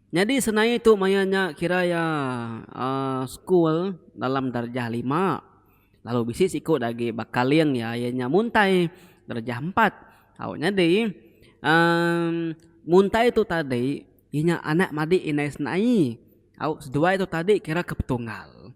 Nyadi senaie tu maya nya kira iya school dalam darjah lima lalu bisi siku da agi ba kaling iya iya nya muntai darjah empat au nyadi muntai tu tadi inya anak madi indai senaie au seduai tu tadi kira ke petunggal.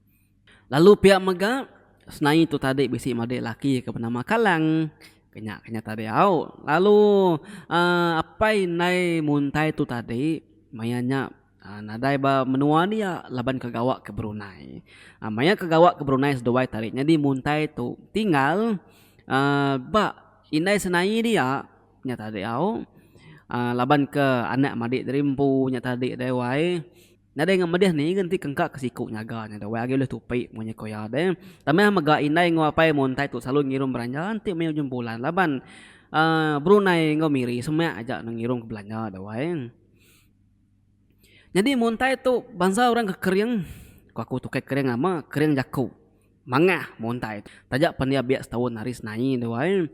Lalu pia mega, senai tu tadi bisi madik laki ke benama Kalang, ke nya ke nya tadi au. Lalu aaa apai indai muntai tu tadi maya nya aaa nadai ba menua dia laban ke gawa ke Brunei. Aaa maya ke gawa ke Brunei seduai tadi nyadi muntai tu tinggal aaa ba indai senai dia nya tadi au. Aaa laban ke anak madik diri empu nya tadi dai wai. Nadai enggau medih ni ga enti kengka ke siku nyaga nya deh weh agi ulih tupi mung nya ko iya deh. Tambah mega indai enggau apai muntai tu selalu ngirum belanja enti meh ujung bulan laban uhh Brunei enggau Miri semak aja ne ngirum ke belanja deh weh. Nyadi muntai tu bansa orang ke kering, ko aku tu kai kering lama, kering jaku. Mangah muntai. Taja pan iya biak setaun ari senai tu ai.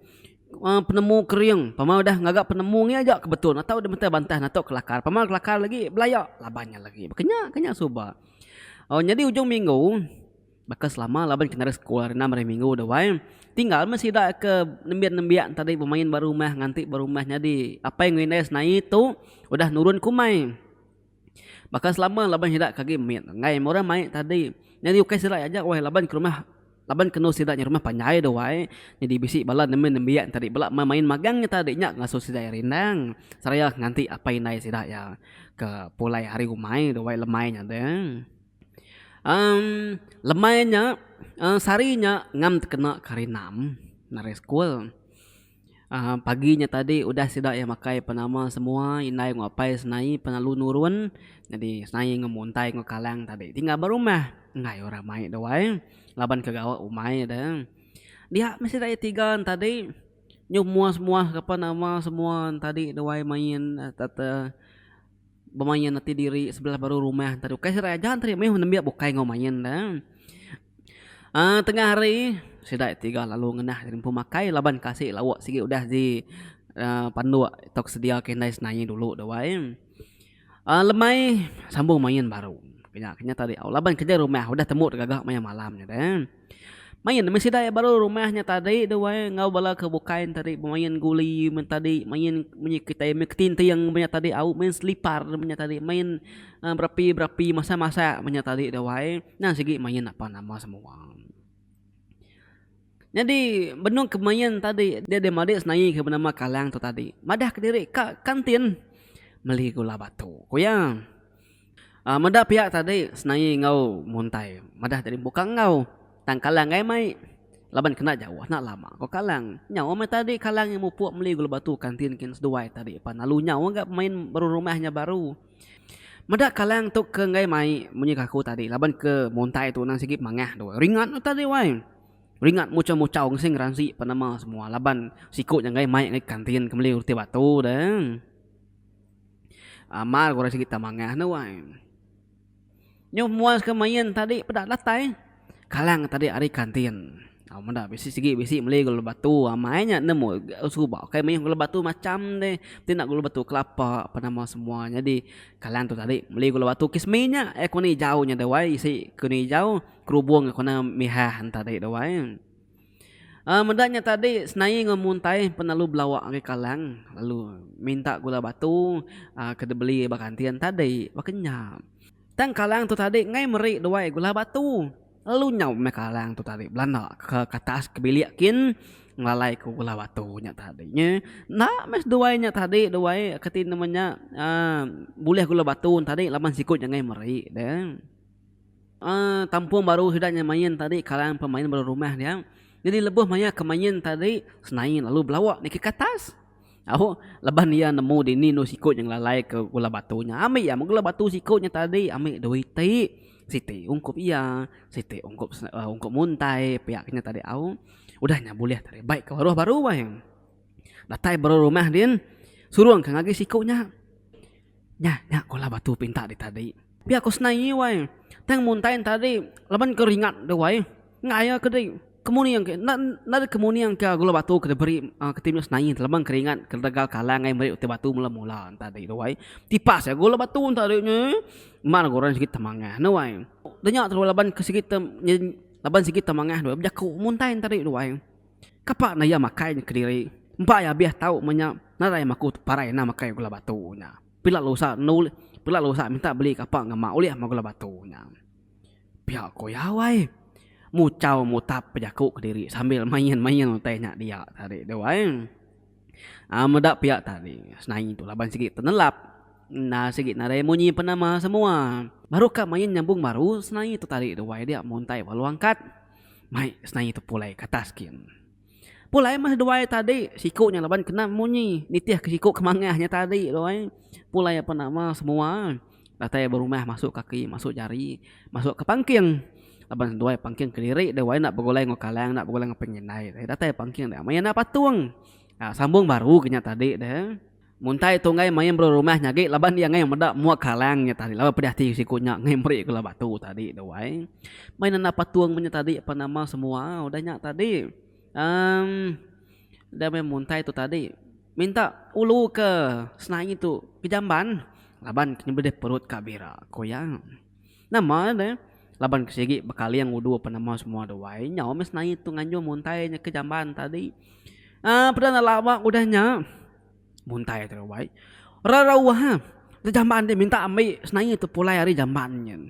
Penemu kering. Pama udah ngaga penemu ngi aja ke betul natau deh mentah bantah natuk kelakar. Pama kelakar lagi belaya laban nya lagi. Kenya kenya suba. Au nyadi ujung minggu baka selama laban kitai ari sekul ari enam hari minggu tu ai. Tinggal meh sida ke nembiak nembiak tadi bemain ba rumah nganti ba rumah nyadi apai ngu indai senai tu udah nurun ke umai. Baka selama laban sida ke agi mit enggai meh orang mai tadi nyadi ukai sida aja weh laban ke rumah laban ke endur sida nya rumah panjai dah wai nyadi bisi bala nemu nembiak tadi bala mai main magang nya tadi nya ngasuh sida iya rindang seraya nganti apai indai sida iya ke pulai hari umai dah wai lemai nya deh. um lemai nya um sehari nya ngam tekena ke hari enam ari sekul. Pagi nya tadi udah sida iya makai penama semua indai enggau apai senai pengalu nurun jadi senai enggau muntai enggau kalang tadi ti ngabar rumah enggai orang mai dau ai laban ke gawa umai deh. Dia meh sida iya tiga ne tadi nyuh muas muas ke apan nama semua ne tadi dau ai main sereta bemain ati diri sebelah baru rumah tadi ukai sida aja enti meh nembiak bukai enggau main deh. Tengah hari sida tiga lalu ngenah ari empu makai laban kasi lauk sigi udah di panduk atau sedia ke indai senaie dulu tu ai lemai sambung main baru nya ke nyata diau laban kerja rumah udah tembu gaga maya malam nya deh main meh sida baru rumah nya tadi tu ai enggau bala ke bukai tadi bemain guli men tadi main munyi kitai main ketinting meh nya tadi au main selipar meh nya tadi main berapi-berapi masak-masak meh nya tadi tu ai. Endang sigi main apa nama semua. Nyadi benung ke main tadi dia deh madik senaie ke benama kalang tu tadi. Madah kediri ka kantin meli gula batu. Ku iya. Um meda piak tadi senaie enggau muntai. Madah tadi buka enggau. Tang kalang gai mai. Laban kena jauh enda lama ko kalang. Nyau meh tadi kalang mupuk meli gula batu kantin kin seduai tadi pan lalu nyau ga pemain berumah nya baru. Meda kalang tu ke enggai mai munyi ke aku tadi laban ke muntai tu nang sigi mangah tu ringat tu tadi wai ringat muchau muchau mesti ngeransi pan nama semua laban siku nya enggai mai ngai kantin ke meli reti batu deh amal ku orang sigi tau mangah ne wai. Nyu muas ke main tadi peda datai kalang tadi ari kantin meda bisi sigi bisi meli gula batu amai nya nemu suba kai mih gula batu macam deh ti enda gula batu kelapa ape nama semua nyadi kalang tu tadi meli gula batu kismis nya air koni ijau nya deh wai isi koni ijau kerubung kena mihah tadi deh wai. Meda nya tadi senai enggau muntai penelu belawa ari kalang lalu minta gula batu ke dibeli ba kantin nya tadi baka nya. Tang kalang tu tadi ngai meri duai gula batu lalu nyau meh kalang tu tadi belanda ke atas ke bilik kin ngelalai ku gula batu nya tadi nya. Enda meh seduai nya tadi duai ke ti nama nya uhh bulih gula batu tadi laban siku nya ngai meri ne. Kampung baru sida nya main tadi karan pemain baru rumah dia. Nyadi lebuh maya ke main tadi senain lalu belawa niki ke atas. Au leban iya nemu dini anu siku nya ngelalai ke gula batu nya. Ambi iya meh gula batu siku nya tadi ambi dua iti. Siti ungkup iya, siti ungkup ungkup muntai piak nya tadi au. Udah nya bulih tadi bai ke baruh baru ai. Datai baru rumah din, surung ka ngagi siku nya. Nya, nya ko lah batu pinta di tadi. Pia ko senai nyi wai. Tang muntai nta di laban ko ringat deh wai. Ngaya ke di kemuning ke enda enda di kemuning ka gula batu ke diberi aaa ke tinu senai nyi laban keringat ke regal kalang ai meri utai batu mula mula nta di tu wai. Tipas ai gula batu nta di nyi. Mar ga orang sigi temangah ne wai. Deh nya tu laban ke sigi te laban sigi temangah bejaku muntai nta di tu wai. Kapa naya makai nya kediri. Empa iya abih tau meh nya nadai maku parai enda makai gula batu nya. Pila lusa enda ulih pila lusa minta beli kapa ngema ulih meh gula batu nya. Pia ku iya wai. Muchau mutap bejaku kediri sambil main main utai nya dia tadi tu ai. Aaa meda pia tadi senai tu laban sigi tenelap enda sigi nadai munyi penama semua. Baru ka main nyambung baru senai tu tadi tu wai dia muntai bala angkat. Mai senai tu pulai ke atas gin. Pulai meh seduai tadi siku nya laban kena munyi nitih ke siku ke mangah nya tadi tu ai. Pulai ape nama semua datai ba rumah masuk kaki masuk jari masuk ke pangking laban seduai pangking kediri debai enda begulai enggau kalang enda begulai enggau pengindai datai pangking nya maya enda patung. Sambung baru ke nya tadi deh. Muntai tu enggai main belu rumah nyagi laban iya enggai meda mua kalang nya tadi laban pedih ati siku nya enggai meri gula batu tadi tu ai. Mei nanda patung menya tadi apan nama semua udah nya tadi em udah meh muntai tu tadi minta ulu ke senaie tu ke jamban laban kena beda perut ka bira ku iya. Nama deh laban ke sigi bekaling udu pen nama semua de wai nyau meh senaie tu nganjung muntai nya ke jamban tadi aaa peda enda laba ke udah nya muntai te wai rerauh ha te jamban ti minta ambi senaie tu pulai ari jamban nyen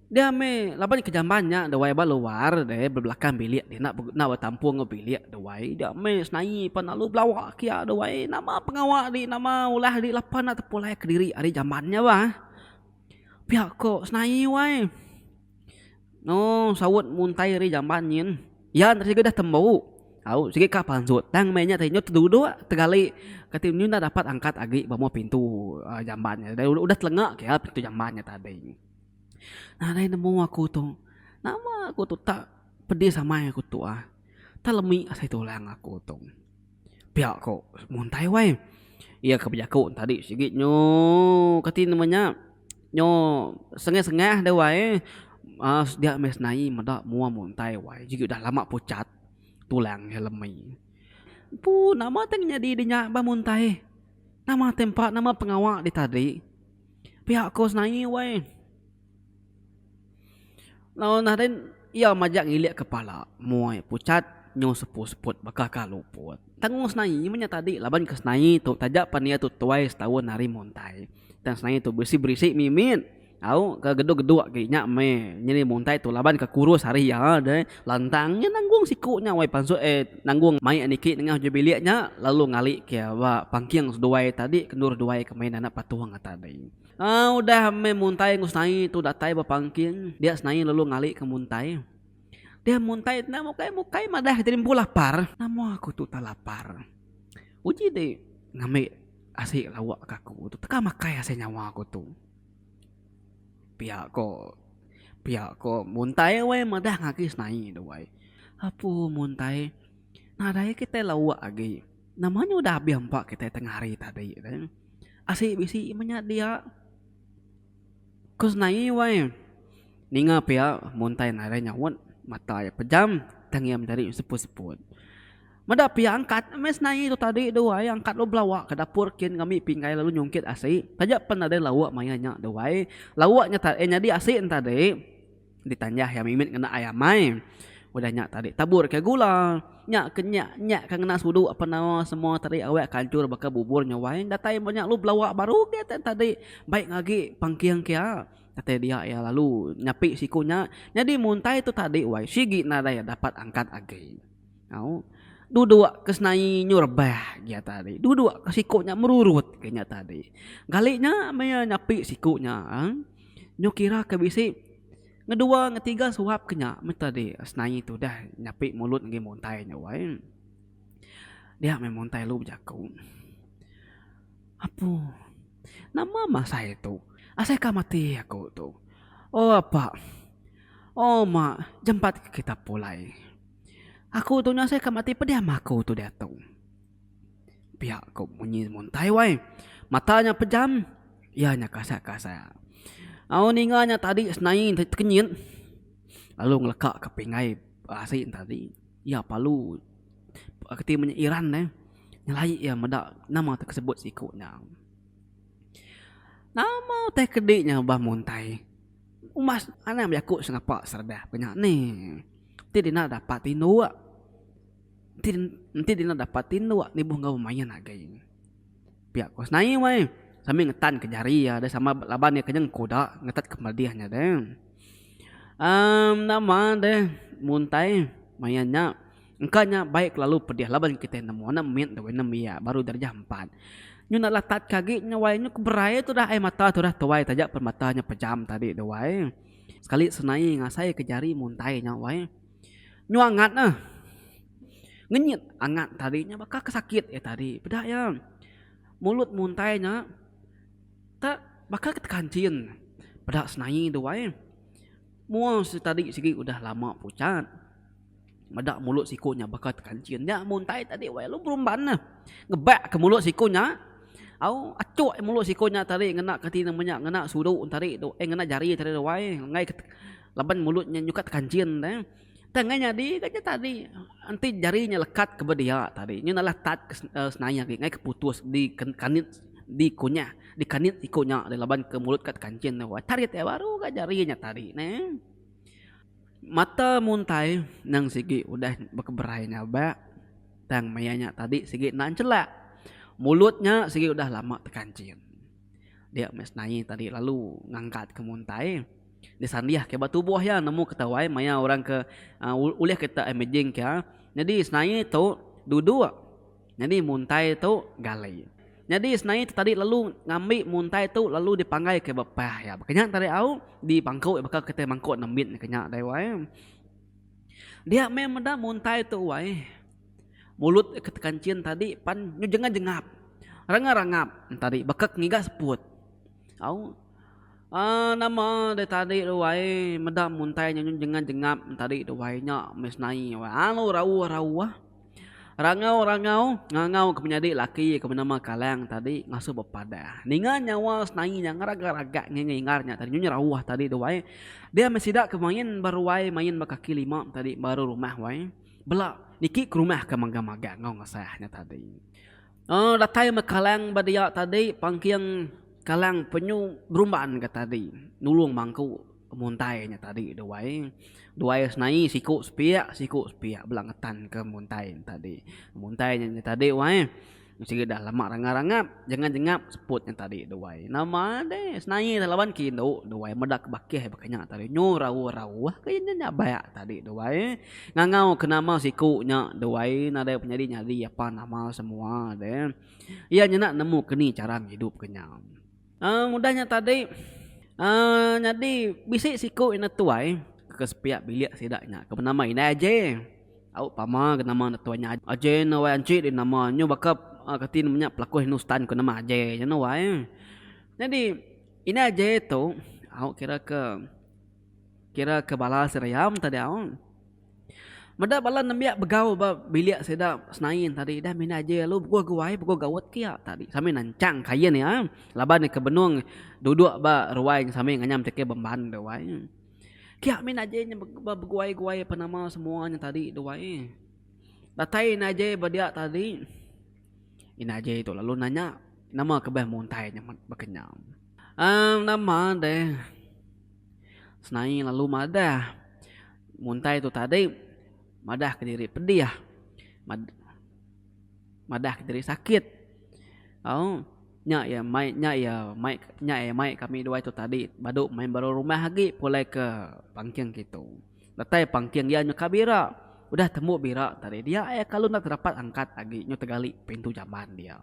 dia meh laban ke jamban nya de wai ba luar de ba belakang bilik de enda enda betampung enggau bilik de wai dia meh senaie pan lalu belawa kia de wai nama pengawa di nama ulah di lepa enda tepulai kediri ari jamban nya bah. Pia ko senai wai. No saut muntai ri jamban nyin yan sigi dah tembu au sigi ka pansut tang meh nya tadi nyu teduduk tegali kati nyu enda dapat angkat agi ba muh pintu um jamban nya tadi udah telenga ke iya pintu jamban nya tadi nah lain nemu aku tu nama aku tu tak pedis amai aku tu ah tak lemi asai tulang aku tu. Pia ko muntai wai. Iya ke bejaku tadi sigi nyo kati nama nya nyo sengeh-sengeh deh wai eh um sedia meh senai meda mua muntai wai sigi udah lama pucat tulang iya lemi. Empu nama teh nyadi di nya bah muntai nama tempa nama pengawa ditadi pia ko senai wai. Lalu nah den iya majak ngilik kepala muai pucat nyu seput-seput baka ka luput. Tanggung senaie nyu menya tadi laban ke senaie tu taja pan iya tu tuai setaun ari muntai. Tang senaie tu berisi-berisi mimit au ke geduk-geduk agi nya meh nyadi muntai tu laban ke kurus ari iya deh lantang nya nanggung siku nya weh pansut eh nanggung mai niki nengah uji bilik nya lalu ngalike ba pangking seduai tadi ke endur duai ke mei nanak patung tadi. Udah meh muntai enggau senai tu datai bepangking dia senai lalu ngali ke muntai. Dia muntai enda mukai mukai madah kita ni empu lapar. Nama aku tu tak lapar. Uji ti ngambi asi lawa ke aku tu teka makai asai nyawa aku tu. Pia ko pia ko muntai weh madah agi senai tu weh. Apu muntai nadai kitai lawa agi. Nama nya udah abih empa kitai tengah hari tadi deh. Asi bisi menya dia. Ku senai wai ninga pia muntai nadai nyaut mata iya pejam tang iya menjadi seput-seput. Meda pia angkat meh senai tu tadi deh wai angkat lalu belawa ke dapur kin ngambi pinggai lalu nyungkit asi. Taja pen nadai lauk maya nya deh wai. Lauk nya tadi nyadi asi nya tadi. Ditanjah iya mimit ngena ai amai. Udah nya tadi taburka gula. Nya ke nya, nya ke ngena sudu apan nama semua tadi awak ke anchur baka bubur nya wai. Datai mba nya lu belawa baru geh tang tadi. Baik agi pangking ke iya. Kate dia iya lalu nyapi siku nya. Nyadi muntai tu tadi wai sigi nadai dapat angkat agi. Au. Duduk ke senai nyu rebah iya tadi. Duduk ke siku nya merurut ke iya tadi. Gali nya meh iya nyapi siku nya. Nyu kira ke bisi ngeduwa ngetiga suap ke nya meh tadi senaie tudah nyapi mulut ngagai muntai nya wai dia meh muntai lu bejaku apu nama mah asai tu asai ka mati aku tu oh apa oh ma jempat kita pulai aku tu nya asai ka mati pediam aku tu diatu. Pia ko munyi muntai wai mata nya pejam iya nya kasat kasat au ninga nya tadi senai nda tekenyit lalu ngeleka ka pingai asi tadi iya palu peka keti munyi iran neh nyelai iya meda nama tu ke sebut siko nya nama utai kedi nya bah muntai uma anak jaku sengapa serabah ke nya neh ti dina dapat indu. Enti enti dina dapat ti enda awak nibuh enggau main agei. Pia ko senai wai sambil ngetan ke jari iya deh sama laban iya kenyang kuda ngetat ke pedih nya deh. Um nama deh muntai main nya engka nya bai kelalu pedih laban kitai nemu anak mit enggau anak mia baru darjah empat. Nyu enda lah tat ke agi nya wai nyu keberai tu dah ai mata tu dah tuai taja peremata nya pejam tadi tu wai. Sekali senai ngasai ke jari muntai nya wai. Nyua ngat neh. Ngenyit angat tadi nya baka ke sakit iya tadi. Peda iya mulut muntai nya te baka ke tekancin. Peda senai tu ai. Mua tadi sigi udah lama pucat meda mulut siku nya baka tekancin nya muntai tadi wai lalu berumban neh. Ngebak ke mulut siku nya au achok mulut siku nya tadi ngena ke ti nama nya ngena sudu tadi tu eh ngena jari tadi tu ai. Enggai ke. Laban mulut nya nyukat kancin deh. Tang ngai nyadi ka nya tadi. Enti jari nya lekat ke ba dia tadi. Nyu nalah tat ke senaya agi ngai ke putus di kanit di kunyah di kanit siku nya deh laban ke mulut kat kancin deh wai tarit iya baru ka jari nya tadi neh. Mata muntai nang sigi udah bekeberai nyabak tang maya nya tadi sigi enda encelak. Mulut nya sigi udah lama tekancin. Dia meh senai tadi lalu ngangkat ke muntai. Disandiah ke ba tubuh iya nemu ketawai maya orang ke ulih kita imaging ke nyadi senai tu duduk nyadi muntai tu gali nyadi senai tu tadi lalu ngambi muntai tu lalu dipanggai ke ba pah iya baka nya tadi au di pangku baka kita mangku nambit ne kenya dai wai dia meh meda muntai tu wai mulut ke tekanchin tadi pan nyu jengap jengap rangap rangap tadi baka ke ngiga seput au. Aaa nama deh tadi tu wai meda muntai nya nyun jengat jengap tadi tu wai nya meh senai wai alu rauh rauh rangau rangau ngangau ke menyadi laki ke benama kalang tadi ngasuh bepadah ninga nyawa senai nya ngeragak ragak ngi ngi ingat nya tadi nyun rauh tadi tu wai dia meh sida ke main ba ruai main ba kaki lima tadi baru rumah wai bela niki ke rumah ke magang magang enggau ngasah nya tadi. Datai meh kalang ba dia tadi pangking kalang penyu berumban ga tadi nulung mangku muntai nya tadi duai duai senai siku sepiak siku sepiak bela ngetan ke muntai nya tadi muntai nya tadi wai sigi dah lama rangap rangap jengap jengap seput nya tadi duai nama deh senai dah laban ke indu duai meda ke bakih ba ke nya tadi nyu rauh rauh ke nyabai tadi duai. Ngangau ke nama siku nya duai nadai penyadi nyadi apan amal semua de. Iya nyena nemu keni chara ngidup ke nya. Aaa udah nya tadi aaa nyadi bisi siku ina tuai ke sepiak bilik sida nya ke benama indai Aje. Au pama ke nama enda tuai nya Aje enda wai anchi di nama nyu baka kati ne menya pelaku hinustan ke nama Aje nya enda wai. Nyadi indai Aje tu au kira ke. Kira ke bala Siriam tadi au. Meda bala nembiak begau ba bilik sida Senain tadi dah mina aje lalu beguh guai beguh gaut ke iya tadi sambil nancang kain iya laban iya ke benung duduk ba ruai sambil nganyam ti ke bemban tu ai. Kia mina aje inya ba beguai-guai apan nama semua nya tadi tu ai. Datai ina aje ba dia tadi. Ina aja itu lalu nanya nama kebah muntai nyamat baka nya. Um, nama deh. Senai lalu madah. Muntai tu tadi madah ke diri pedih. Mad madah ke diri sakit. Au nya iya mai nya iya mai nya iya mai kami dua itu tadi badu main baru rumah agi pulai ke pangking kitu. Datai pangking iya nyu ka bira. Udah tembu bira tadi dia ai kalu enda terapat angkat agi nyu tegali pintu jamban dia.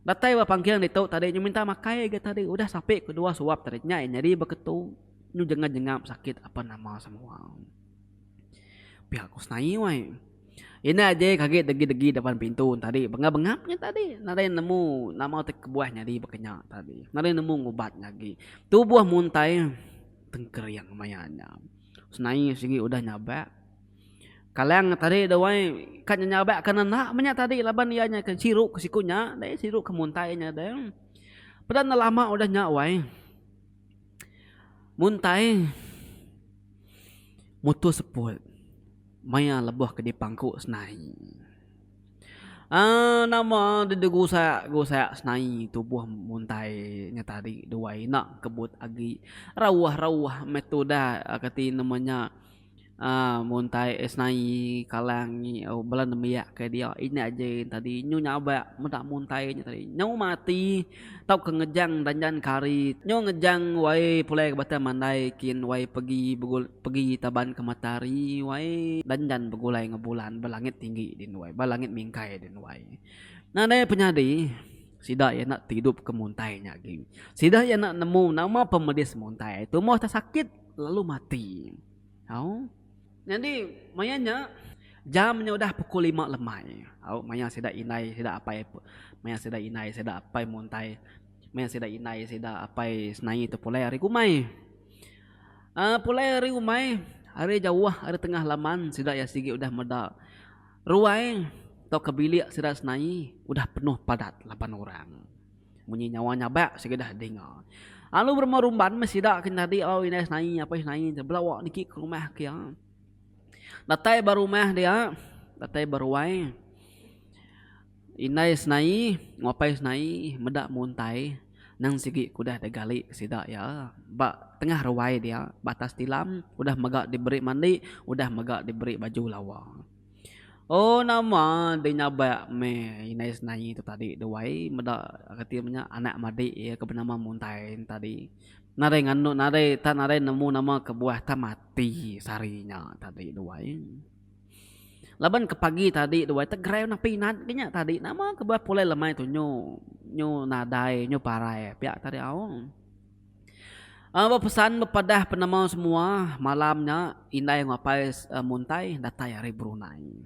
Datai ba pangking ditu tadi nyu minta makai ga tadi udah sapi ke dua suap tadi nya iya nyadi beketu nyu jengat jengap sakit apan nama semua. Pia ku senai wai. Ina aja ke agi degi degi depan pintu tadi bengap bengap nya tadi nadai nemu nama ti kebuah nyadi baka nya tadi nadai nemu ngubat nya agi. Tu buah muntai. tengkering maya nya. Senai sigi udah nyabak. Kalang tadi tu ai ka nyabak ke nenak menya tadi laban iya nya ke siru ke siku nya deh siru ke muntai nya deh. Peda enda lama udah nya wai muntai mutus seput maya lebuh ke dipangku senai. Aaa nama dede gusak gusak senai tubuh muntai nya tadi dua ina kebut agi rauh rauh meh tudah kati nama nya aaa muntai senai kalang bala nembiak ke dia ina aja tadi nyu nyabak meda muntai nya tadi nyu mati. Tauka ngejang danjan ke hari nyo ngejang wai pulai ke bata mandai kin wai pegi pegi taban ke matahari wai danjan begulai ngan bulan ba langit tinggi din wai ba langit mingkai din wai nadai penyadi sida iya enda ti idup ke muntai nya agi sida iya enda nemu nama pemedis muntai tumoh sakit lalu mati au. Nyadi maya nya jam nya udah pukul lima lemai. Au maya sida indai sida apai maya sida indai sida apai muntai maya sida indai sida apai senai tu pulai ari rumai. Aaa pulai ari rumai ari jauh ari tengah laman sida iya sigi udah meda ruai tauka bilik sida senai udah penuh padat laban orang. Munyi nyawa nyabak sikedah dinga. Lalu berumah rumban meh sida ke nyadi lalu indai senai apai senai tu belawa niki ke rumah ke iya. Datai ba rumah dia datai ba ruai indai senai enggau apai senai meda muntai nang sigi ke udah digali sida iya ba tengah ruai dia ba atas tilam udah mega diberi mandi udah mega diberi baju lawa. Oh nama deh nyabak meh inai senai tu tadi tu wai meda reti inya anak madik iya ke benama muntai ne tadi nadai nganu nadai tak nadai nemu nama kebuah tak mati sehari nya tadi tu wai laban ke pagi tadi tu wai tak gerai nang pinat ke nya tadi nama kebuah pulai lemai tu nyu nyu nadai nyu parai pia tadi au. Ba pesan bepadah penemu semua malam nya indai enggau apai Muntai datai ari Brunei.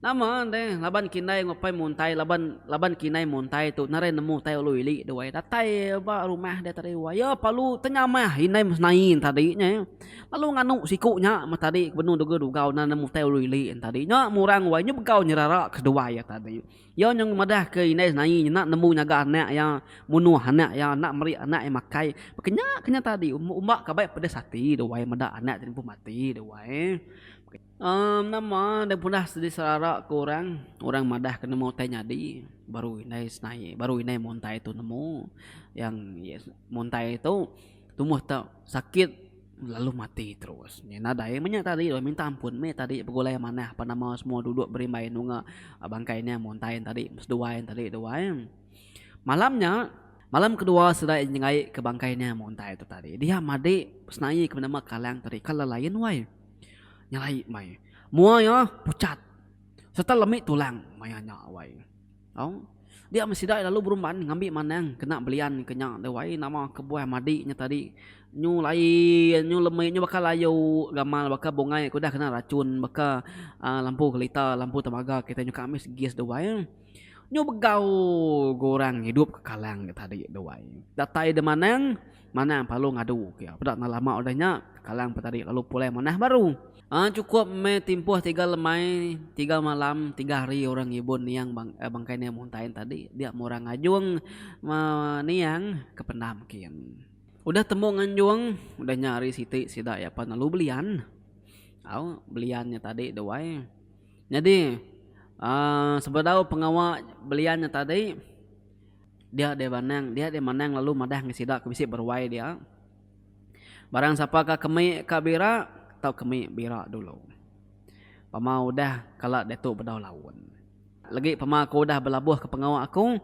Nama deh laban ke indai enggau apai Muntai laban laban ke indai Muntai tu narai nemu utai ulu ili duai datai ba rumah deh tadi wai iya perlu tenyamah indai mesenai tadi nya lalu nganu siku nya meh tadi ke benung degau-degau nan nemu utai ulu ili tadi nya murang wai nya begau nyerara ke duai iya tadi. Iya nyau madahka indai senai nyena nemu nyaga anak iya, munuh anak iya enda meri anak iya makai. Baka nya ke nya tadi umba ka bai pedis ati duai meda anak ti empu mati duai. Em nama enda pernah diserara ke orang, orang madah ke nemu utai nyadi baru indai senai baru indai muntai tu nemu yang muntai tu. Tumoh tu sakit lalu mati terus. Nya nadai menya tadi lalu minta ampun meh tadi begulai manah apan nama semua duduk berimbai nunga bangkai nya muntai nya tadi seduai nya tadi dua em. Malam nya malam kedua sida nyengai ke bangkai nya muntai tu tadi dia madi senaie ke nama kalang tadi kaler lain wai. Nyelai meh. Mua iya pucat serta lemi tulang maya nya wai. Au. Dia meh sida lalu berumban ngambi manang kena belian ke nya deh wai nama kebuah madi nya tadi nyu lain nyu lemi nyu baka layu gamal baka bungai ke udah kena rachun baka aaa lampu kelita lampu temaga kitai nyukang mih segi deh wai nyu begau ke orang idup ke kalang nya tadi deh wai datai deh manang. Manang pelalu ngadu ke. Peda enda lama udah nya, Kalang Petari lalu pulai manah baru. Chukup meh timpuh tiga lemai, tiga malam, tiga hari orang ngibun niang bangkai Niang Muntain tadi. Dia meh orang ngajung niang ke pendam kin. Udah tembu nganjung, udah nya hari siti sida iya pan lalu belian. Au, belian nya tadi deh wai. Nyadi sebedau pengawa belian nya tadi. Dia deh banang, dia deh manang lalu madah ngan sida ke bisi beruai dia, Barang sapa ka kemi ka bira, tau kemi bira dulu. Pama udah kala diatu bedau laun. Legi pama aku udah belabuh ke pengawa aku,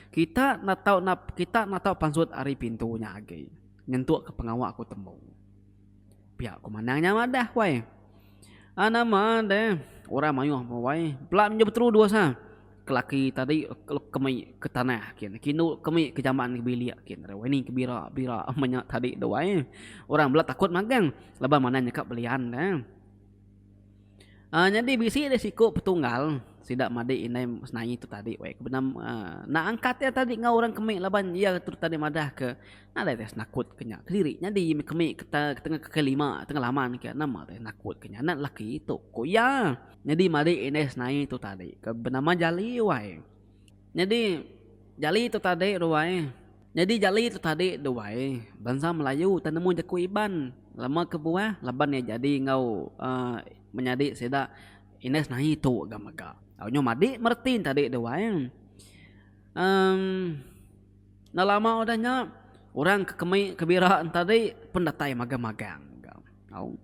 kita enda tau kita enda tau pansut ari pintu nya agi nyentuk ke pengawa aku tembu. Pia ku manang nya madah wai. Ah nama de orang mayuh meh wai pela menjau beteru dua sa ke laki tadi ke mei ke tanah kin ke indu ke mei ke jamban ke bilik kin re wai ni ke bira bira meh nya tadi tu wai orang bela takut magang laban manah nya ka belian ne. Um Nyadi bisi deh siku petunggal sida madi indai senaie tu tadi weh ke benam um nak angkat iya tadi enggau orang kemi laban iya tu tadi madah ke nadai deh senakut ke nya kediri nyadi meh kemi ke tengah ke lima tengah laman ke nama deh nakut ke nya anak lelaki tu ku iya nyadi madi indai senaie tu tadi ke benama Jali wai nyadi Jali tu tadi ruwai. Nyadi jali tu tadi duai bansa melayu utai nemu jaku iban lama kebuah laban iya jadi enggau menyadi sida indai senahi tu ga mega nyu madi mereti tadi duai enda lama udah nya orang ke kemi ke bira tadi pun datai magang magang ga au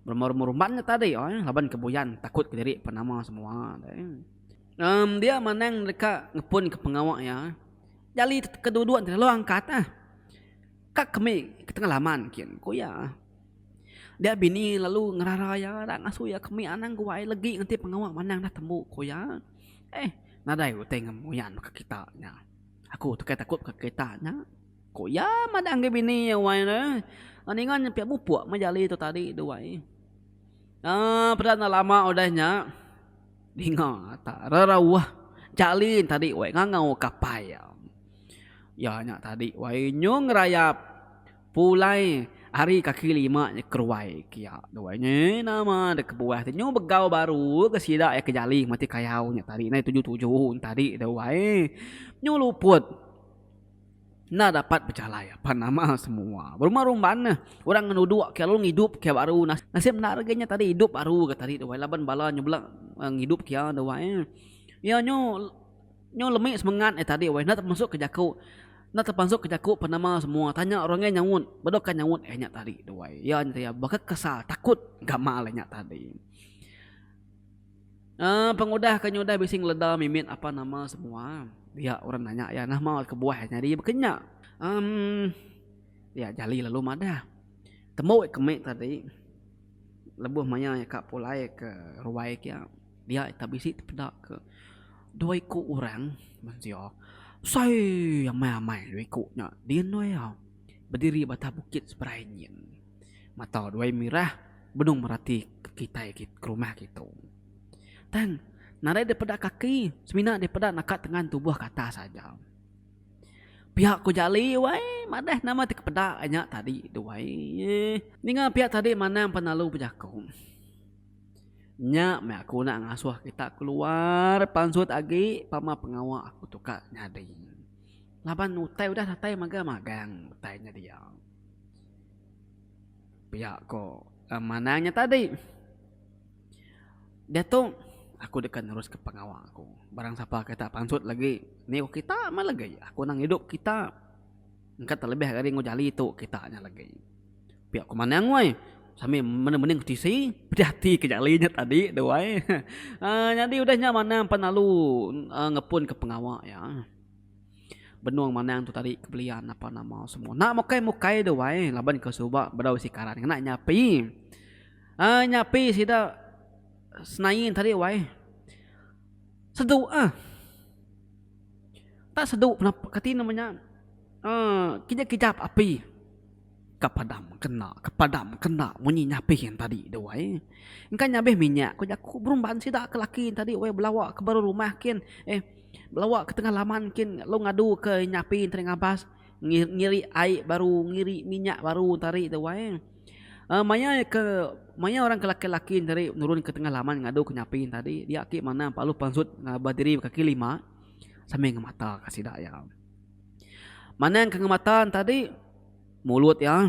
rumah rumah rumban nya tadi laban ke buyan takut kediri pan nama semua dia manang deka ngepun ke pengawa iya Nyali ke duduk nta lalu angkat ah ka kemi ke tengah laman kin ku iya. Dia bini lalu ngerara iya dak ngasuh iya kemi anang guai legi nganti pengawa manang dah tembu ku iya. Eh nadai utai ngan muyan ka kita nya. Aku tu kai takut ka kita nya ku iya madah enggau bini iya wai le ninga nya pia mupuk meh nyali tu tadi tu wai. Aa peda enda lama udah nya Ninga ta rerauh jalin tadi wai ngangau kapai iya. Iya nya tadi wai nyung ngerayap pulai ari kaki lima nya keruai ke iya tu wai nyi nama deh kebuah ti nyung begau baru ke sida iya ke jali mati kayau nya tadi nai tuju-tuju tadi tu wai nyung luput. Enda dapat bejalai apan nama semua. Berumah rumban neh. Orang ngenuduk ke lalu ngidup ke baru. Nasib enda lagi nya tadi idup baru ke tadi tu ai. Laban bala nyebela ngidup ke iya tu ai. Iya nyu nyu lemi semengat nya tadi weh. Enda temasuk ke jaku enda temasuk ke jaku apan nama semua. Tanya orang ngai nyaut. Bedokka nyaut iya nya tadi tu ai. Iya nya tadi. Baka kesal, takut gamal iya nya tadi. Pengudah ke nyudah bisi ngeleda mimit apan nama semua. Dia orang nanya iya nama kebuah iya nyadi baka nya. Iya jali lalu madah. Tembu iya ke mik tadi lebuh maya iya ka pulai ke ruai ke iya dia ita bisi tepeda ke dua iku orang mensia besai amai-amai dua iku nya di endur iya bediri ba atas bukit seberai nyin. Mata duai mirah benung merati ke kitai ke rumah kitu. Tang, nadai dipeda kaki semina dipeda naka tengan tubuh ke atas aja. Pia ku Jali wai madah nama ti ke peda ai nya tadi tu ai. Ninga pia tadi manang pan lalu bejaku. Nya meh aku enda ngasuh kita keluar pansut agi pama pengawa aku tu ka nyadi. Laban utai udah datai magang-magang utai nya dia. Pia ko manang nya tadi diatu aku deka neruska pengawa aku barang sapa ke dak pansut lagi enda ko kita meh lagi aku nang idup kita engka telebih ari enggau jali tu kita nya lagi pia ko manang weh sambil mending mending ke tisi pedih ati ke jali nya tadi tu ai nyadi udah nya manang pelalu ngepun ke pengawa iya. Benung manang tu tadi ke belian napa nama semua. Enda mukai mukai tu wai laban ke suba bedau isi karan ngena nyapi. Um nyapi sida senain tadi wai sedu ah enda sedu kati nama nya um kejap kejap api. Ka padam kena, ka padam kena munyi nyapih en tadi tu wai. Engka nyabih minyak ku jaku berumban sida ke laki en tadi wai belawa ke baru rumah kin eh belawa ke tengah laman kin lalu ngadu ke nyapi enti ari ngabas ngiri ai baru ngiri minyak baru enti ari tu wai. Em maya ke maya orang ke laki-laki enti ari nurun ke tengah laman ngadu ke nyapi en tadi dia agi manah paluh pansut ngaba diri ba kaki lima sambil ngemata ka sida iya. Manang ke ngemata en tadi. Mulut iya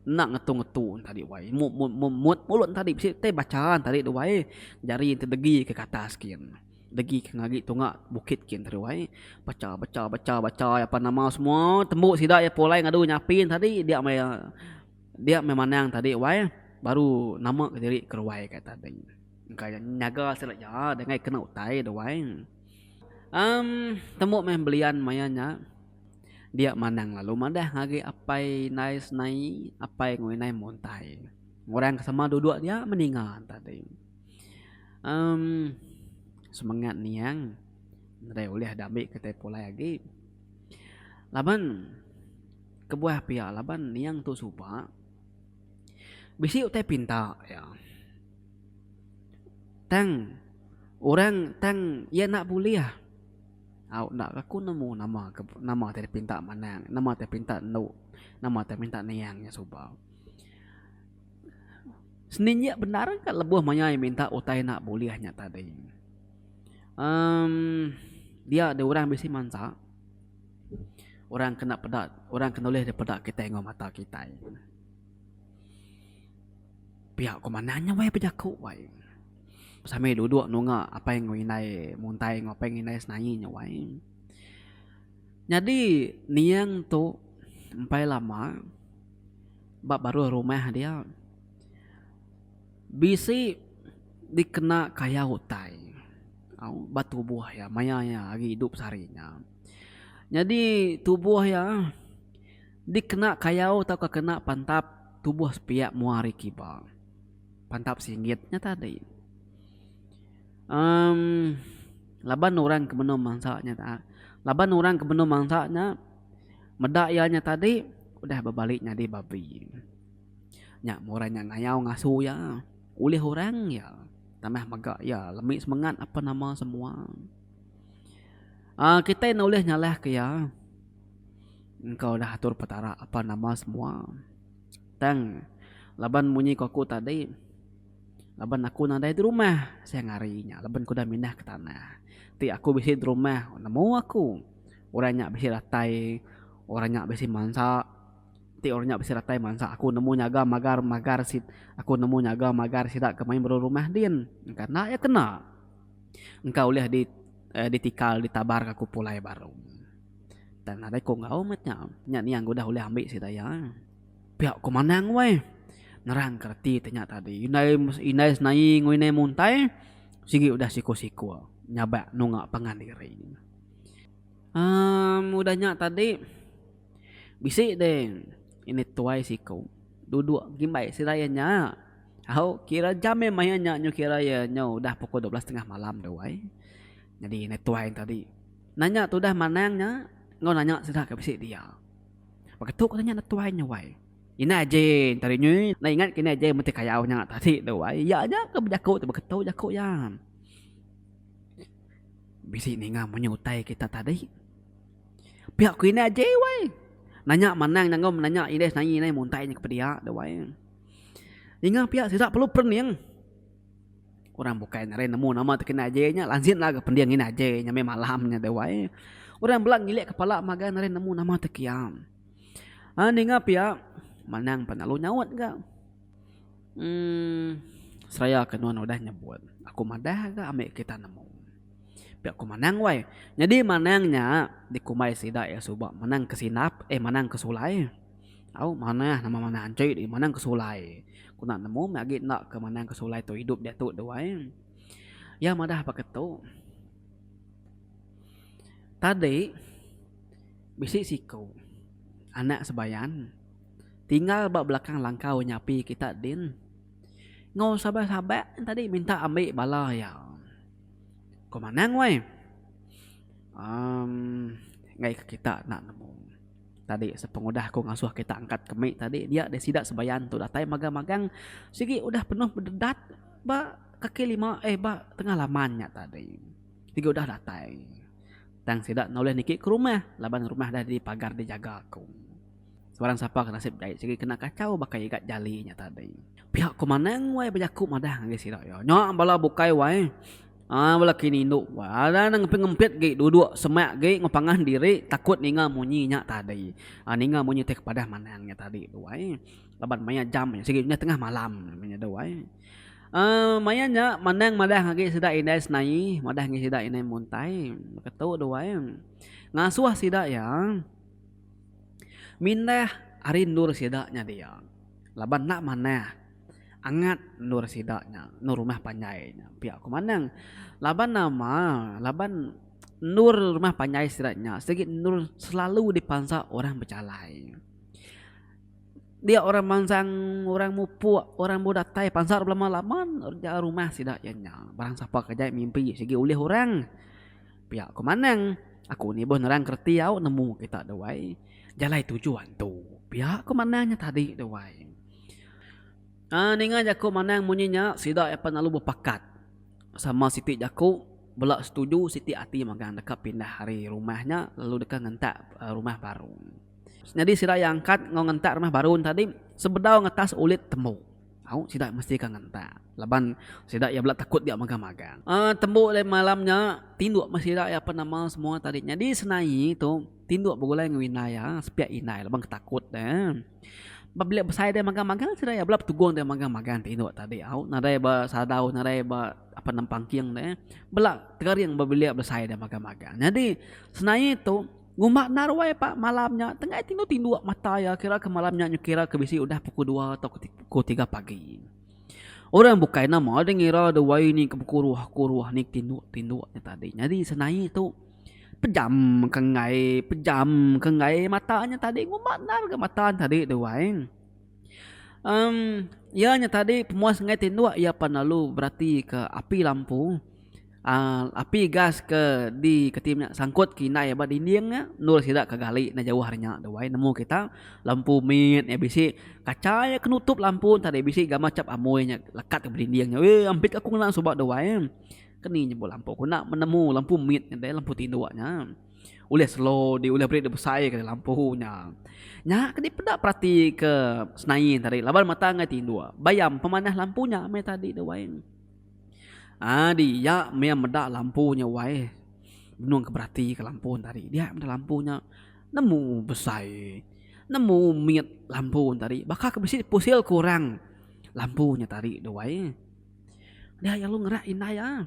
enda ngetu-ngetu entadi wai. Mut mut mut mut mulut entadi bisi tai bacha entadi tu wai. Jari enti degi ke atas gin. Degi ke ngaji tunga bukit gin tadi wai. Bacha bacha bacha bacha iya pan nama semua tembu sida iya pulai ngadu nyapi entadi dia meh iya dia meh manang tadi wai baru nama ke diri ke ruai ka ita tadi. Engka iya nyaga sida iya dangai kena utai tu wai. Amm tembu meh belian maya nya. Dia Manang lalu madah ngagai Apai indai Senai, Apai enggau Indai Muntai. Orang ke sama duduk dia meninga tadi. Um semengat niang nadai ulih dami kitai pulai agi. Laban kebuah pia laban niang tu suba bisi utai pinta iya. Tang orang tang iya enda bulih. Au enda ke aku nemu nama ke nama ti dipinta manang nama ti dipinta endu nama ti dipinta niang nya suba. Seninjik bendar ka lebuh mayai minta utai enda bulih nya tadi um dia deh orang bisi mansa orang kena peda orang ke nulih dipeda kitai enggau mata kitai. Pia ku manah nya wai bejaku wai. Sami duduk nunga apai enggau indai muntai enggau apai enggau indai senaie nya wai. Nyadi niang tu empai lama ba baruh rumah dia bisi dikena kaya utai au ba tubuh iya maya iya agi idup sehari nya. Nyadi tubuh iya. Dikena kayau tauka kena pantap tubuh sepiak mua ari kiba. Pantap singgit nya tadi. Em laban orang ke benung mansa nya ta laban orang ke benung mansa nya meda iya nya tadi udah bebali nyadi babi. Nya mun orang nya ngayau ngasu iya ulih orang iya tanah mega iya lemi semengat ape nama semua. Aaa kitai ne ulih nyalahka iya. Engkau udah atur Petara apan nama semua. Tang, laban munyi ku aku tadi, laban aku nadai di rumah siang hari nya laban ku udah mindah ke tanah ti aku bisi di rumah nemu aku orang nya bisi ratai orang nya bisi mansa ti orang nya bisi ratai mansa aku nemu nyaga magar magar si aku nemu nyaga magar sida ke main bala rumah din engka enda iya kena. Engka ulih di ditikal ditabar aku pulai baru. Tang nadai ko enggau met nya. Nya niang ke udah ulih ambi sida iya. Pia ko manang weh. Nerang ka reti te nya tadi. Indai indai senaie enggau indai muntai sigi udah siko-siko nyabak nunga pangan diri. Um udah nya tadi bisi deh ini tuai siko dudok ngimbai sida iya nya. Au kira jam meh maya nya nyu kira iya nyu udah pukul dua belas tengah malam tu ai. Nyadi indai tuai nya tadi nanya tudah manang nya enggau nanya sida ke bisi dia. Baka tu ku nanya anak tuai nya wai. Indai aje nya tadi nyi enda ingat ke indai aje meti kayau nya tadi tu wai. Iya aja ke bejaku tu baka tu jaku iya. Bisi ninga munyi utai kita tadi. Pia ku indai aje wai. Nanya manang nya enggau nanya indai sinain muntai nya kepedia tu wai. Ninga pia sida perlu perening. Orang bukai nadai nemu nama ti kena aje nya lanjit lagu pending ngin aje nya meh malam nya deh wai. Orang bela ngilik kepala magang nadai nemu nama ti kiang. Aaa ninga pia manang pan lalu nyaut ga uhh seraya ke nuan udah nyebut aku madah ga ami kita nemu. Pia ku manang wai. Nyadi manang nya dikumbai sida iya suba manang ke sinap eh manang ke sulai. Au manah nama manah anchoi deh manang ke sulai ku enda nemu meh agi enda ke manang ke sulai tu idup diatu tu ai. Iya madah pake tu tadi bisi siku anak sebayan tinggal ba belakang langkau nyapi kita din enggau saban saban tadi minta ambi bala iya. Ko manang weh. Um ngaih ke kita enda nemu. Tadi sepengudah aku ngasuh kita angkat ke mik tadi dia deh sida sebayan tu datai magang magang sigi udah penuh bededat ba kaki lima eh ba tengah laman nya tadi sigi udah datai tang sida enda ulih niki ke rumah laban rumah dah dipagar dijaga aku sebarang sapa ke nasib jai sigi kena kachau baka igat jali nya tadi pia ko manang wai bejaku madah ngagai sida iya nya bala bukai wai. Aa belaki nindu bala nang ngempit-ngempit gi duduk semak gi ngepangah diri takut ninga munyi nya tadi. Aa ninga munyi ti kepadah manang nya tadi tu ai. Laban maya jam nya sigi tengah malam nya tu ai. Aa maya nya manang madah agi sida indai senai, madah agi sida indai muntai. Baka tu tu ai. Ngasuh sida iya mindah ari endur sida nya dia laban enda manah. Angat endur sida nya, endur rumah panjai nya pia aku manang. Laban nama, laban endur rumah panjai sida nya sigi endur selalu dipansa orang bejalai. Dia orang mansang, orang mupuk, orang bau datai pansa belama-lama endur rumah sida iya nya. Barang sapa ke jai mimpi sigi ulih orang. Pia ku manang, aku ni beh nerang kereti au nemu kita dewai jalai tuju antu. Pia ku manang nya tadi dewai. Aa ninga jaku manang munyi nya sida iya pan lalu bepakat sama siti jaku bela setuju siti ati magang deka pindah ari rumah nya lalu deka ngentak rumah baru. Nyadi sida iya angkat enggau ngentak rumah baru nya tadi sebedau ngetas ulit tembu au sida mesti ka ngentak laban sida iya bela takut dia mega magang. Aa tembu lain malam nya tinduk meh sida iya pan amal semua tadi nyadi senaie tu. Tinduk begulai enggau indai iya sepiak indai laban ke takut deh. Pabila besai deh magang magang sida iya bela betugung deh magang magang tinduk tadi au nadai ba sadau nadai ba apan nempang king deh bela tekaring ba bilik besai deh magang magang. Nyadi senae tu ngumba enda ruai pak malam nya tengai tinduk tinduk mata iya kira ke malam nya kira ke bisi udah pukul dua atau pukul tiga pagi. Orang bukai nama deh ngira duai ni ke pukul dua pukul dua ni tinduk tinduk nya tadi. Nyadi senae tu. Pejam ke enggai pejam ke enggai mata nya tadi ngumba endar ga mata nya tadi tu wai em iya nya tadi pemuas enggai tinduk iya pan lalu berati ke api lampu aaa api gas ke di keti nya sangkut ke indai ba dinding nya endur sida ke gali enda jauh ari nya tu wai nemu kita lampu mit nya bisi kaca iya ke nutup lampu tadi bisi gambar chap amoi nya lekat ba dinding nya weh ampit aku ngena suba tu wai. Ke ni nyebut lampu ku enda menemu lampu mit nya deh lampu tinduk nya. Ulih slow di ulih beri dibesai ke lampu nya. Nya ke dipeda perati ke senain tadi laban mata enggau tinduk. Bayam pemanah lampu nya meh tadi tu wai. Adi iya meh meda lampu nya wai benung ke berati ke lampu tadi. Dia meda lampu nya nemu besai nemu mit lampu tadi baka ke bisi pusil kurang lampu nya tadi tu wai. Nya iya lalu ngerak indai iya.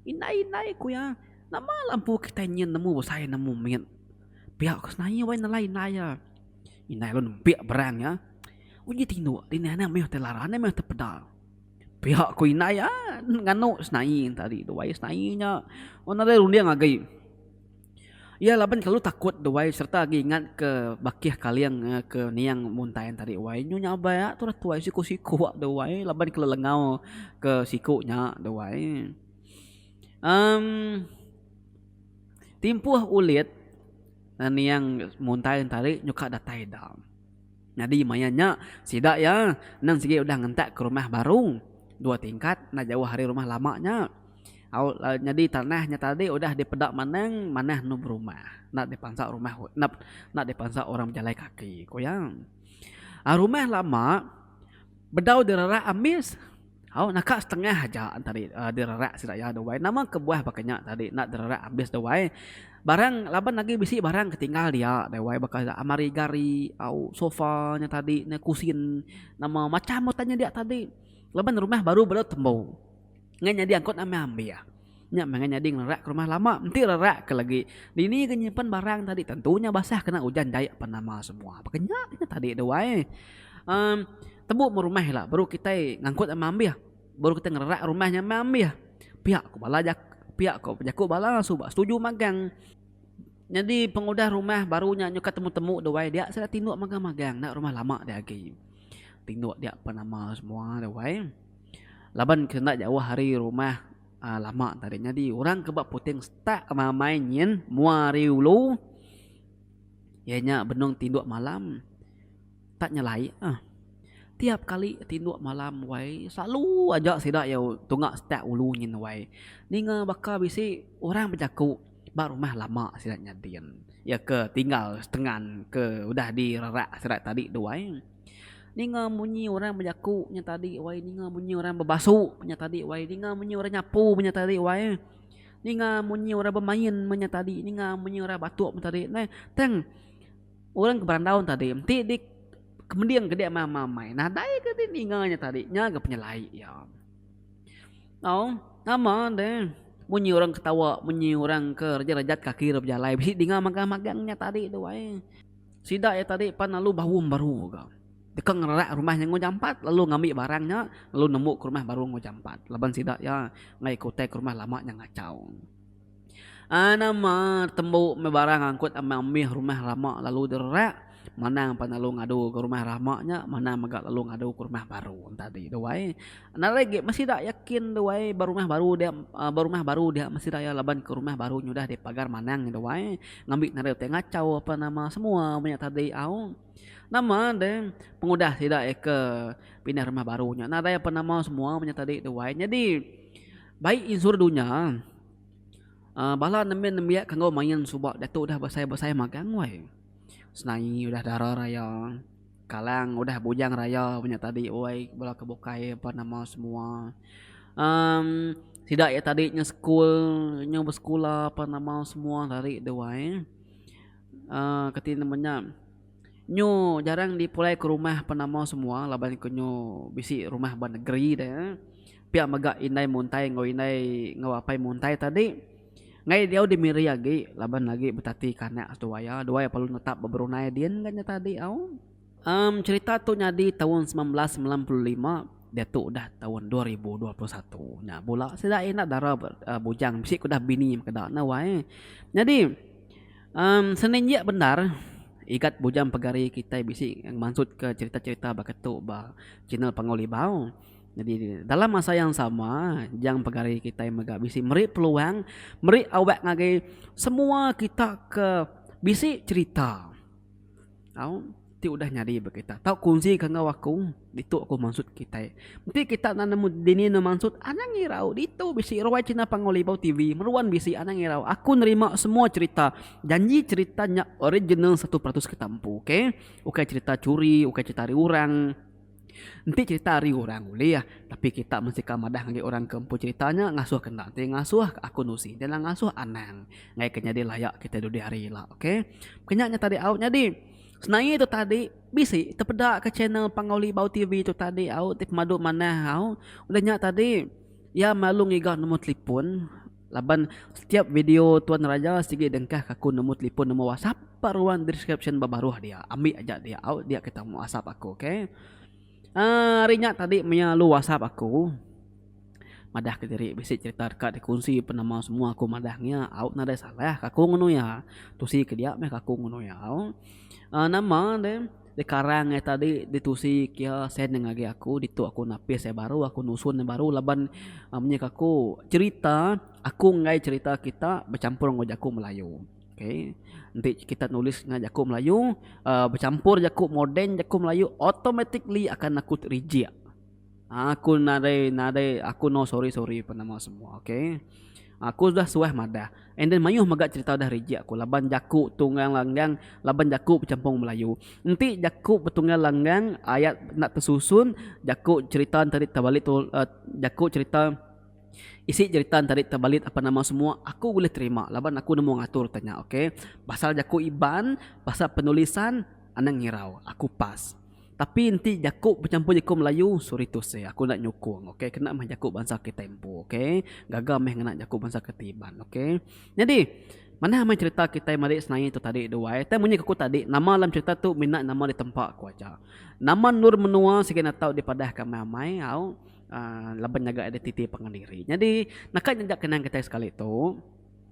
Indai indai ku iya, nama la empu kitai nyin nemu besai nemu mit. Pia ku senaya wai nelai indai iya. Indai lalu nempik berang iya. Uji tindu ti nih anak meh ti lara anak meh ti peda. Pia ku indai iya nganu senai tadi tu wai senai nya. Wang nadai runding agi. Iya laban kelalu takut tu wai sereta agi ingat ke bakih kaling ke niang muntai tadi wai nyu nya abai a turah tuai siku-siku a tu wai laban kelalu lengau ke siku nya tu wai um timpuh ulit niang muntai tadi nyu ka datai da nyadi maya nya sida iya nang sigi udah ngentak ke rumah baru dua tingkat enda jauh ari rumah lama nya. Au nyadi tanah nya tadi udah dipeda manang manah anu berumah enda dipansa rumah enda dipansa orang bejalai kaki ku iya. Rumah lama bedau direrak ambis au naka setengah aja tadi direrak sida iya duai nama kebuah baka nya tadi enda direrak ambis duai barang laban agi bisi barang ke tinggal dia duai baka almari gari au sofa nya tadi ne kusin nama macam utai nya dia tadi laban rumah baru baru tembu. Ngai nyadi angkut amai ambia. Nya meh ngai nyadi ngelerak ke rumah lama. Enti lerak ke lagi, dini ke nyimpan barang tadi tentu nya basah kena ujan jai apan nama semua. Baka nya nya tadi tu ai. Um tembu meh rumah ila baru kitai ngangkut amai ambia. Baru kitai ngelerak rumah nya amai ambia. Pia ku bala jaku pia ku jaku bala suba setuju magang. Nyadi pengudah rumah baru nya nyukat temu-temu tu ai dia sida tinduk magang-magang enda rumah lama dia agi. Tinduk dia apan nama semua tu ai. Laban ke enda jauh ari rumah lama tadi nyadi orang ke ba Puting Setak amai nyin mua ari ulu iya nya benung tinduk malam tak nyelai ah. Tiap kali tinduk malam wai selalu aja sida iya tunga setak ulu nyin wai ninga baka bisi orang bejaku ba rumah lama sida nyadin iya ke tinggal setengan ke udah direrak sida tadi tu ai. Ninga munyi orang bejaku nya tadi wai ninga munyi orang bebasu nya tadi wai ninga munyi orang nyapu nya tadi wai ninga munyi orang bemain nya tadi ninga munyi orang batuk nya tadi neh tang orang ke berandau nya tadi ti di kemending ke dia meh amai nadai ke dia ninga nya tadi nya ga penyelai iya tau nama deh munyi orang ketawa munyi orang ke rejat-rejat kaki dok bejalai bisi dinga magang-magang nya tadi tu wai. Sida iya tadi pan lalu baum baru ga. Deka ngererak rumah nya enggau jampat lalu ngambi barang nya lalu nemu ke rumah baru enggau jampat laban sida iya ngagai ke utai ke rumah lama nya ngachau. Ai nama tembu meh barang angkut ambih-ambih rumah lama lalu direrak manang pan lalu ngadu ke rumah lama nya manang mega lalu ngadu ke rumah baru entah di duai. Enda lagi meh sida yakin duai ba rumah baru dia ba rumah baru dia meh sida iya laban ke rumah baru nya udah dipagar manang duai. Ngambi nadai utai ngachau apa nama semua menya tadi au nama de pengudah sida eka pindah rumah baru nya nadai apa nama semua menya tadi tu wai nyadi bai insurans dunya um bala nembiak nembiak ke enggau main suba diatu udah besai besai magang wai senaie udah dara raya. Kalang udah bujang raya nya tadi uai bala ke bukai apan nama semua um sida ia tadi nya sekul nya besekula apan nama semua ari deh uai um kati nama nya nyu jarang dipulai ke rumah apan nama semua laban ke nyu bisi rumah ba negeri deh pia mega indai muntai enggau indai enggau apai muntai tadi. Ngai diau di Miri agi laban agi betati kanak seduai iya. Dua iya perlu netap beberunai din enggau nyata diau. Emm cerita tu nyadi taun semilan belas semilan puluh lima diatu udah taun dua ribu dua puluh satu nya bula sida enda dara bujang bisi ke udah bini makeda enda wai. Nyadi emm seninjik bendar igat bujang pegari kitai bisi ngemansut ke cerita-cerita baka tu ba channel Panggau Libau. Nyadi dalam masa yang sama, jang pegari kitai mega bisi meri peluang, meri awak ngagai semua kita ke bisi cerita. Au, ti udah nyadi ba kita. Tau kongsi ka enggau aku, ditu aku maksud kitai. Enti kita enda nemu dini ne maksud, anang irau. Ditu bisi ruai cina Pangolibau TV, meruan bisi anang irau. Aku nerima semua cerita. Janji cerita nya original satu peratus kita empu. Okay. Ukai cerita curi, ukai cerita ari orang. Enti cerita ari orang ulih, tapi kita mensikal madah ngagai orang ke empu cerita nya ngasuh ke enda enti ngasuh ke aku nusi enti enda ngasuh anang ngagai ke nyadi layak kita dudi hari ila ok kenya nya tadi au nyadi senaie tu tadi bisi tepeda ke channel pangau libau tv tu tadi au ti pemadu manah au udah nya tadi ia melalu ngiga number telefon. Laban setiap video tuan raja sigi dengkah ka aku nemu telipon nemu whatsapp pa ruang description ba baruh dia ambi aja dia au dia kita mu whatsapp aku ok uhh ari nya tadi maya lu whatsapp aku madah ka diri bisi cerita deka di kunsi pa nama semua aku madah nya au nadai salah ka aku ngunu iya tusi ke dia meh ka aku ngunu iya au uhh nama de. Sekarang iya tadi ditusi kia sen nya ngagai aku ditu aku napis iya baru aku nusun iya baru laban menyek aku cerita aku enggai cerita kita bechampur enggau jaku melayu ok enti kita nulis ngau jaku melayu bechampur jaku moden jaku melayu automatically akan aku reject. Aku nadai nadai aku no sorry sorry pen nama semua ok. Aku sudah suah madah and then mayuh mega cerita udah rejek aku laban jaku tunggang langgang laban jaku becampung melayu. Enti jaku betunggang langgang ayat enda tesusun jaku cerita enda tadi tebalit tu a jaku cerita isi cerita enda tadi tebalit apa nama semua aku bulih terima laban aku nemu ngatur te nya ok. Pasal jaku iban pasal penulisan anang ngirau aku pas. Tapi enti jaku bechampur jaku melayu sorry to say aku enda nyukung ok kena meh jaku bansa kitai empu ok gaga meh ngena jaku bansa kitai iban ok nyadi manah meh cherita kitai marik senaie tu tadi duai tang munyi aku tadi nama dalam cherita tu mina nama ditempa ku aja nama endur menua sigi enda tau dipadah ka amai amai au a laban nyaga identiti pangan diri nyadi naka nyajak kenang kitai sekali tu.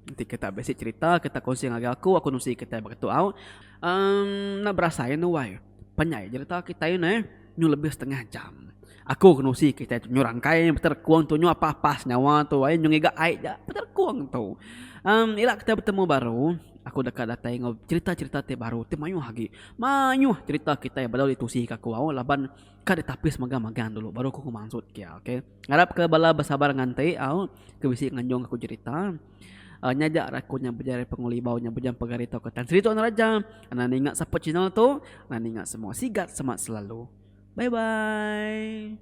Enti kita bisi cerita kita kongsi ngagai aku aku nusi kitai ba ketu au. Um enda berasai anu wai. Panjai cerita kitai ne nyu lebih setengah jam. Aku ke nusi kitai tu nyu rangkai beterkung tu nyu apa-apa senyawa tu ai nyu ngiga ai ja beterkung tu. Um ila kitai betemu baru aku deka datai enggau cerita-cerita ti baru ti mayuh agi. Mayuh cerita kitai balau ditusi ke aku au laban ka ditapis megang-megang dulu baru aku mansut kia okay. Ngarap ke bala besabar nganti au ke bisi nganjung aku jerita. Nya aja raku nya bejari pengulibau nya bejam pegari tauka Tan Sri Tok Naraja. Anda ninga support channel tu, anda ninga semua sigat semat selalu. Bye bye.